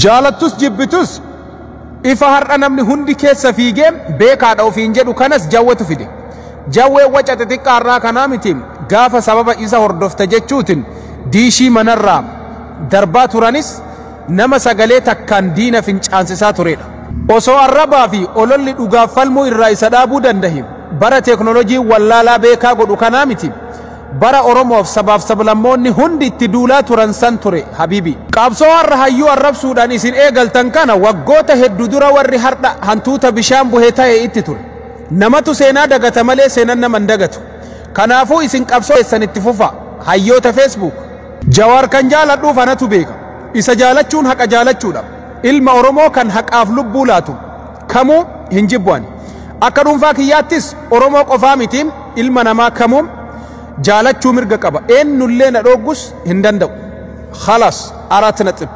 Jaalattus jibbitus ifa har'a namni hundi keessa fiigee beekaadha ofiin jedhu kanas jawwetu fide. Jawween waca xixiqqaa har'aa kanaa miti gaafa sababa isa hordofta jechuutin diishii manarraa darbaa turanis nama sagalee takkaan diina fincaansisaa tureedha. Osoo arrabaa fi ololli dhugaaf falmuu irraa isa dhaabuu dandahe bara teeknolojiin wallaalaa beekaa godhu kanaa miti Bara Oromoof sabaaf sablammoonni hundi itti duulaa turan san ture habibi. Qabsoo har'a hayyuu arrabsuudhaan isin eegaltan kana waggoota heddu dura warri hardha hantuuta bishaan buhe tahe itti ture. Namatu seenaa dagata malee seenan nama hin dagatu. Kanaafuu isin qabsoo teessan itti fufaa. Hayyoota Facebook. Jawaar kan jaaladhuuf anatu beeka. Isa jaalachuun haqa jaalachuudha. Ilma Oromoo kan haqaaf lubbuu laatu. kamuu hin jibbu ani. Akka dhuunfaa kiyyaattis Oromoo qofaa miti ilma namaa kamuu jaalachuu mirga qaba. Eennullee na dhooggus hin danda'u. Khalas arat naxib.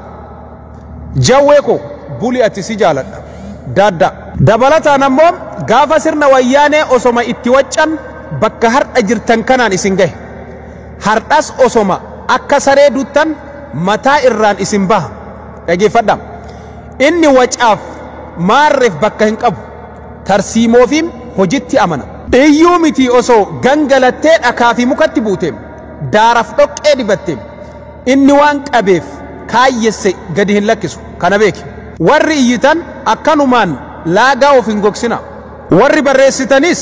Jawwee koo buli ati si jaaladha. Daaddaa. Dabalataan ammoo gaafa sirna wayyaanee osoma itti waccan bakka hardha jirtan kanaan isin gahe. Hardhas osoma akka saree duttan mataa irraan isin baha. Dhageeffadhaa. Inni wacaaf maarreef bakka hin qabu, tarsiimoofiim hojitti amana. Iyyuu mitii osoo gangalattee dhakaa fi mukatti buuteem, daaraf dhoqqee dibatteem, inni waan qabeef kaayyesse gadi hin lakkisu. Kana beeki. Warri iyyitan akkanumaan laagaa of hin gogsinaa. Warri barreessitanis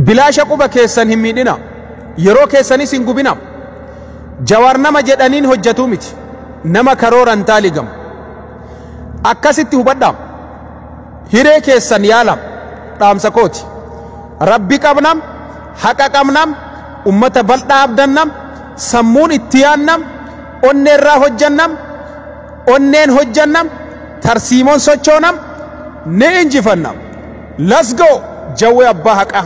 bilaasha quba keessan hin miidhinaa, yeroo keessanis hin gubinaa. Jawaar nama jedhaniin hojjatu miti. Nama karooran taaligamu. Akkasitti hubadhaam. Hiree keessan yaalam. Dhaamsa kooti. Rabbi qabnam, haqa qabnam, ummata baldhaa abdannam, sammuun itti yaannam, onneerraa hojjannam, onneen hojjannam, tarsiimoon sochoonam, ni injifannam. Let's go! Jawwee abbaa haqaa!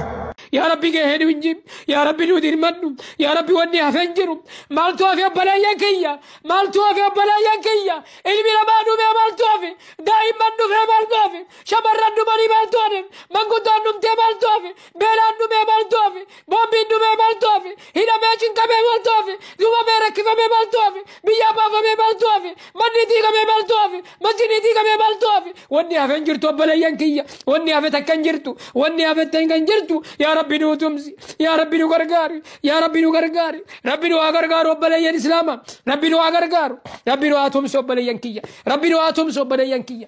yaa rabbi gahee nu inji yaa rabbi nu dirmadhu yaa rabbi wanni hafeen jiru maaltu hafe obbaleeyyan kiyya maaltu hafe obbaleeyyan kiyya ilmi namaa dhumee maaltu hafe daa'imman dhufee maaltu hafe shamarran dhumanii maaltu hafe manguddaan dhumtee maaltu hafe beelaan dhumee maaltu hafe boombiin dhumee maaltu hafe hidhamee cinqamee maaltu hafe dhumamee rakkifamee maaltu hafe biyyaa baafamee maaltu hafe manni diigamee maaltu hafe masjidni diigamee maaltu hafe wanni hafe hin jirtu obboleeyyan kiyya wanni hafe takka hin jirtu wanni hafe ta'in kan jirtu yaa rabbi nu tumsi yaa rabbi nu gargaari yaa rabbi nu gargaari rabbi nu haa gargaaru obboleeyyan islaama rabbi nu haa gargaaru rabbi nu haa tumsu obboleeyyan kiyya rabbi nu haa tumsu obboleeyyan kiyya